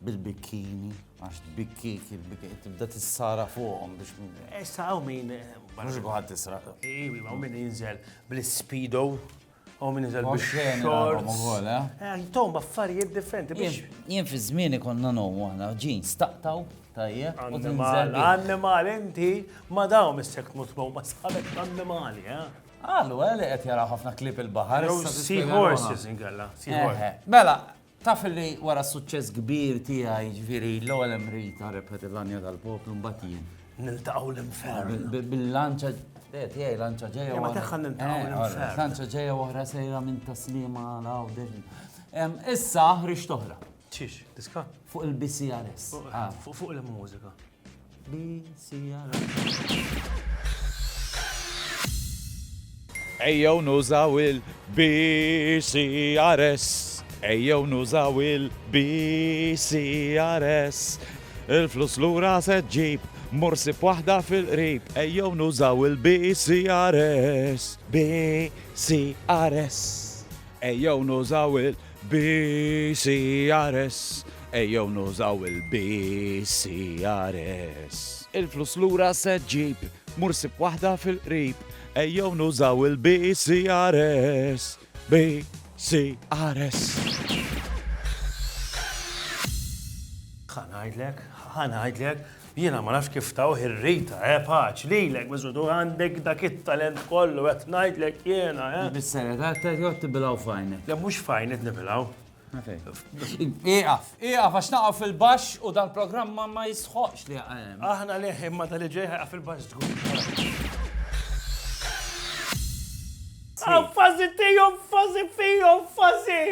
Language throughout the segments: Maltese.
bil-bikkini, għax tbikkik, il-bikkini, tibda tissara fuqhom biex. Issa għaw min. Mux għad tisra. Iwi, għaw min jinżel bl-speedo, għaw min jinżel bl-short. Tom, baffarijiet differenti biex. Jien fi zmieni konna nom, għana ġin staqtaw, tajjeb. Annimal, annimal, inti ma daw mis-sekt mutmow, ma sabek annimali, eh? Għallu, għalli eh, għet jara ħafna klip il-bahar. Sea horses, ingalla. Mela, Taf illi wara s-suċċess kbir tiegħi, jiġifieri l-ewwel hemm Rita rebħet il-Għanja tal-Poplu mbagħad jien. Niltaqgħu l-infern. Bil-lanċa eh, tiegħi lanċa ġejja. Eh, ma tagħha niltaqgħu eh, l-infern. Lanċa ġejja oħra sejra minn taslima għal hawn Issa ħriġt oħra. Ċiex, diska? Fuq il-BCRS. Ah. Fuq il-mużika. Ejjew nużaw il-BCRS. Ejjew nużaw il-BCRS. Il-flus lura se ġġib morsi b'waħda fil-qrib. Ejjew nużaw il-BCRS. BCRS. Ejjew nużaw il BCRS, Ejjew nużaw il-BCRS. Il-flus lura se ġġib, mur sib waħda fil-qrib. Ejjew nużaw il-BCRS, BCRS. Ħa ngħidlek, ħa ngħidlek, Jiena ma nafx kif tawh ir-rita, eh, paċ, lilek biss u tu għandek dak it-talent kollu, qed ngħidlek jiena, eh. Bis-serjetà qed joqgħod tibilgħu f'għajnek. Le mhux f'għajni qed nibilgħu. Ieqaf, ieqaf għax naqgħu fil-baxx u dal-programm ma jistħoqqx li jaqa' hemm. Aħna leh imma tal-li ġej ħajqa' fil-baxx żgur. Fażi tiegħu, fażi fihom, fażi!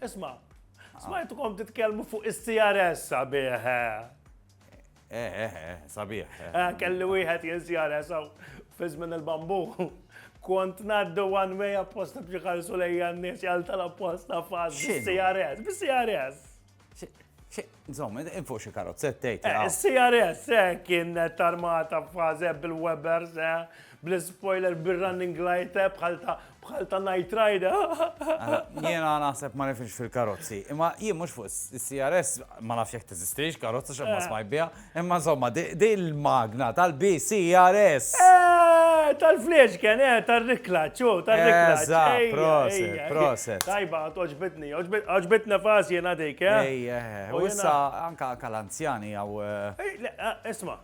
Isma'. Smajtkom titkellmu fuq is-CRS sabiħ. Eh, eh, eh, eh sabiħ. Eh. eh, kelli wieħed jien CRS għaw fizmin il-bambu. Kont naddu one way apposta biex ħarsu lejja n-nies jgħal tal-apposta faz bis-CRS, bis-CRS. Zom, infu xie karozzet tejt. CRS, kien tarmata faze bil-Webers, Bl-ispoiler, bir-running light, eh, bħal ta' bħal ta' Night Rider. Jiena naħseb ma nifx fil-karozzi. Imma jien mhux fuq is-CRS ma nafx jekk teżistix karozza x'hemm eh. smaj biha. Imma insomma, di l-magna tal-BCRS. Eh, tal-flexken, eh, tal-riklaċ, u tal-riklaċ. Eżatt, proset, proset. Tajba, oġbitni, oġbitna fazi jena dik, eh. Ejja, u issa anka l-anzjani għaw. Isma,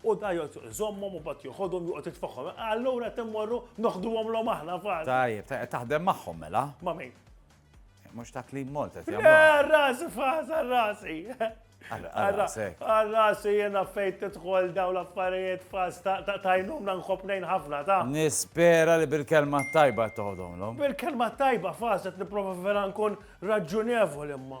U da joqgħod iżommhom u mbagħad joħodhom joqgħod jitfagħhom. Allura qed immorru noħduhomlhom aħna fal. Tajjeb, qed taħdem magħhom mela? Ma' min? Mhux ta' Clean Malta qed jagħmlu. Għar-rasi fas, għar-rasi. Għar-rasi jiena fejn tidħol daw l-affarijiet fas ta' tajnum nanħobb nejn ħafna ta'. Nispera li bil-kelma tajba toħodhomlhom. Bil-kelma tajba fas qed nipprova vera nkun raġunevoli imma.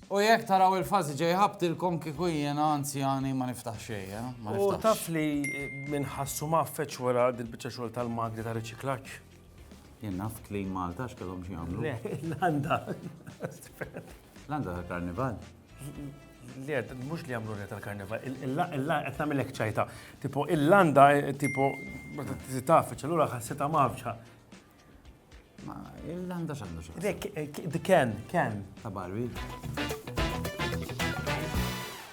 U jekk taraw il-fażi ġej ħabtilkom kieku jiena anzjani ma niftaħx xejn, eh? Ma niftaħx. U taf li minn ħassu mgħaffeġ wara dil-biċċa xogħol tal-magni ta' riċiklaġġ? Jien naf Clean Malta x'kellhom xi jagħmlu. Le, l-għanda. L-għanda tal-karnival. Le, mux li għamlu reta l-karnival, il-la qed nagħmilek ċajta. Tipo, il-landa, tipo, taf, ċellura ħassita mafġa. Ma, il-landa xandu xandu. Dek, eh, d-ken, ken. Ta' Barbie.